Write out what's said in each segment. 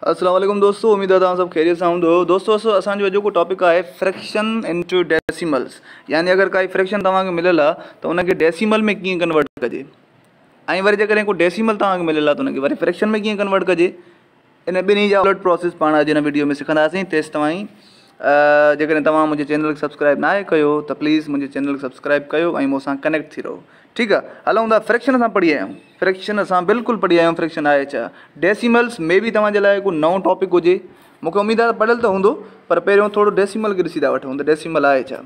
السلام عليڪم دوستو اميد آ توهان سڀ خيريت سان هوندو دوستو اسان جو اڄوڪو ٽاپڪ آهي فريڪشن انٽو ڊيسيملز يعني اگر ڪائي فريڪشن توهان کي مليل آ ته ان کي ڊيسيمل ۾ ڪيئن ڪنورٽ ڪجي ۽ وري جيڪڏهن ڪو ڊيسيمل توهان کي مليل آ ته ان کي وري فريڪشن ۾ ڪيئن ڪنورٽ ڪجي ان ٻنهي جا الٽ پروسيس پاڻ اڄ هن ويڊيو ۾ سکنداسين تيس توهين جيڪڏهن توهان منهنجي چينل کي سبسڪرائب ناهي ڪيو ته پليز منهنجي چينل کي سبسڪرائب ڪيو ۽ مون سان ڪنيڪٽ ٿي رهو ٺيڪ آ هلون ٿا فريڪشن اسان پڙهي آيا آهيون فريڪشن اسان بلڪل پڙهي آيا آهيون فريڪشن آهي ڇا ڊيسيملس مي بي توهان جي لاء ڪو نئون ٽاپڪ هجي مونکي اميد آهي پڙهيل ته هوندو پر پهريون ٿورو ڊيسيمل کي ڏسي ٿا وٺون ته ڊيسيمل آهي ڇا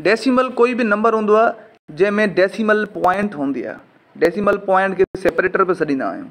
ڊيسيمل ڪوئي به نمبر هوندو آهي جنهن ۾ ڊيسيمل پوائنٽ هوندي آهي ڊيسيمل پوائنٽ کي سيپريٽر به سڏيندا آهيون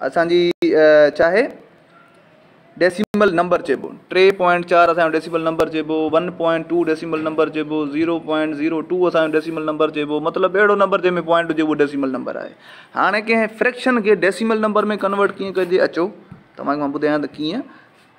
اسان جي چاهي ڊيسيمل نمبر چئبو ٽي پوائنٽ چار اسان جو ڊيسيمل نمبر چئبو one point two decimal number چئبو زيرو پوائنٽ زيرو ٽو اسان جو ڊيسيمل نمبر چئبو مطلب اهڙو نمبر جنهن ۾ پوائنٽ هجي اهو ڊيسيمل نمبر آهي هاڻي ڪنهن فريڪشن کي ڊيسيمل نمبر ۾ ڪنورٽ ڪيئن ڪجي اچو توهان کي مان ٻڌايان ته ڪيئن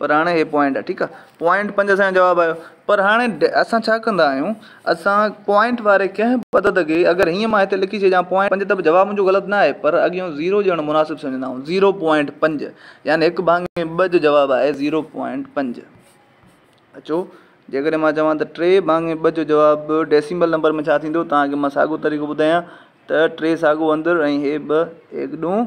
پر هاڻي هي پوائنٽ آهي ٺيڪ آهي پوائنٽ پنج اسان جو جواب آيو پر هاڻي اسان ڇا ڪندا آهيون اسان پوائنٽ واري ڪنهن به عدد کي اگر هيئن مان هتي لکي ڇڏيان پوائنٽ پنج ته به جواب منهنجو غلط نه آهي پر اڳيون زيرو ڏيڻ مناسب سمجهندا آهيون زيرو پوائنٽ پنج يعني هڪ ڀاڱي ٻه جو جواب آهي زيرو پوائنٽ پنج اچو جيڪڏهن مان چوان ته ٽي ڀاڱي ٻه جو جواب ڊيسيمل نمبر ۾ ڇا ٿيندو تان کي مان ساڳو طريقو ٻڌايان ته ٽي ساڳو اندر ۽ هي ٻه ايڪ ڏون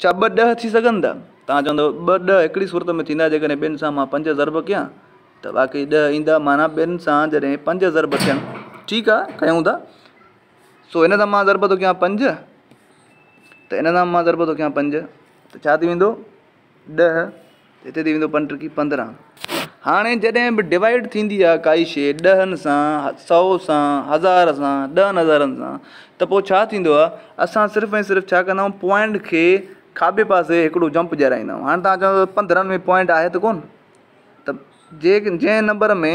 ڇا ٻه ڏهه ٿي سگهن ٿا؟ توهان چوندؤ ٻه ڏهه هڪڙي صورت ۾ ٿيندا جيڪڏهن ٻين سان مان پنج ضرب ڪيان ته واقعي ڏهه ايندا معنيٰ ٻين سان جڏهن پنج ضرب ٿين ٺيڪ آهي ڪيون ٿا سو هن سان مان ضرب ٿو ڪيان پنج ته ان سان مان ضرب ٿو ڪيان پنج ته ڇا ٿي ويندو ڏهه هتي ٿي ويندو پنٽرڪي پندرهن. هاڻي جڏهن به ڊوائيڊ ٿيندي آهي ڪائي شيء ڏهن سان، سئو سان، هزار سان، ڏهن هزارن سان ته پوء ڇا ٿيندو آهي اسان صرف ۽ صرف ڇا ڪندا آهيون پوائنٽ کي کاٻي پاسي هڪڙو جمپ ڏيارائيندا آهيون هاڻي توهان چوندو پندرهن ۾ پوائنٽ آهي ته ڪونه ته جي جنهن نمبر ۾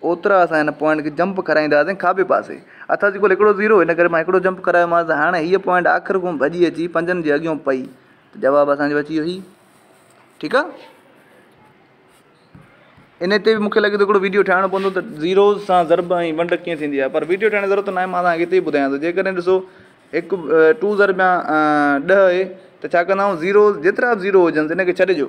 اوترا اسان هن پوائنٽ کي جمپ ڪرائيندا هئاسين کاٻي پاسي اٿا جي ڪل هڪڙو زيرو ان ڪري مان هڪڙو جمپ ڪرايومانس ته هاڻي هيء پوائنٽ آخر ڪوم ڀڄي اچي پنجن جي اڳيون پئي ته جواب اسان جو اچي ويو هي ٺيڪ آ ان تي به مونکي لڳي ٿو هڪڙو ويڊيو ٺاهڻو پوندو ته زيروز سان ضرب ۽ ونڊ ڪيئن ٿيندي آهي پر ويڊيو ٺاهڻ جي ضرورت ناهي مان تهانکي هتي ئي ٻڌايان ٿو جيڪڏهن ڏسو هڪ ٽو ضرب يا ڏهه آهي ته ڇا ڪندا آهيون زيروز جيترا به زيرو هجنس ان کي ڇڏي ڏيو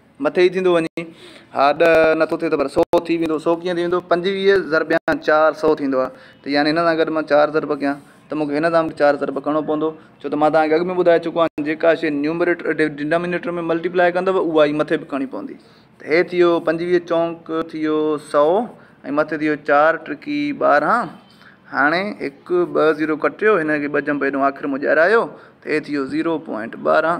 مٿي ئي ٿيندو وڃي. ها ڏهه نه ٿو ٿئي ته پر سؤ ٿي ويندو. سؤ ڪيئن ٿي ويندو؟ پنجويهه ضربيان چار سؤ ٿيندو آهي ته يعني هن سان گڏ مان چار ضرب ڪيان ته مون کي هن سان به چار ضرب ڪرڻو پوندو ڇو ته مان توهان کي اڳ ۾ ٻڌائي چڪو آهيان جيڪا شيء نيومريٽر ڊنامينيٽر ۾ ملٽي پلائي ڪندو اها ئي مٿي به ڪرڻي پوندي ته هي ٿي ويو پنجويهه چونڪ ٿي ويو سؤ ۽ مٿي ٿي ويو چار ٽرڪي ٻارهن هاڻي هڪ ٻه زيرو ڪٽيو هن کي ٻه جنب هيڏو آخر ۾ ڄارايو ته هي ٿي ويو زيرو پوائنٽ ٻارهن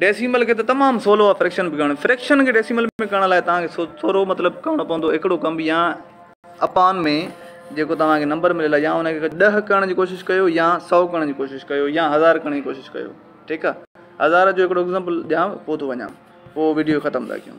ڊيسيمل کي ته تمام سولو آهي فريڪشن به ڪرڻ. فريڪشن کي ڊيسيمل ۾ ڪرڻ لاء توهان کي ٿورو مطلب ڪرڻو پوندو هڪڙو ڪم يا اپان ۾ جيڪو توهان کي نمبر مليل آهي يا ان کي ڏهه ڪرڻ جي ڪوشش ڪيو يا سؤ ڪرڻ جي ڪوشش ڪيو يا هزار ڪرڻ جي ڪوشش ڪيو ٺيڪ آهي هزار جو هڪڙو ايگزامپل ڏيان پوء ٿو وڃان پوء وڊيو ختم ٿا ڪيون.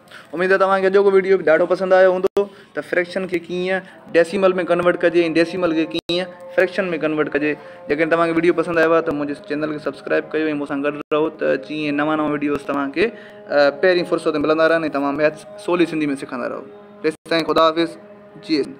اميد توهان کي اڄوڪو وڊيو به ڏاڍو پسند آيو هوندو ته فريڪشن کي ڪيئن ڊيسيمل ۾ ڪنورٽ ڪجي ۽ ڊيسيمل کي ڪيئن فريڪشن ۾ ڪنورٽ ڪجي جيڪڏهن توهان کي وڊيو پسند آيو آهي ته منهنجي چينل کي سبسڪرائب ڪيو ۽ مون سان گڏ رهو ته جيئن نوان نوان وڊيوز توهان کي پهرين فرصت ۾ ملندا رهن ۽ توهان ميٿس سولي سنڌي ۾ سکندا رهو تيستائين خدا حافظ جي سنڌ.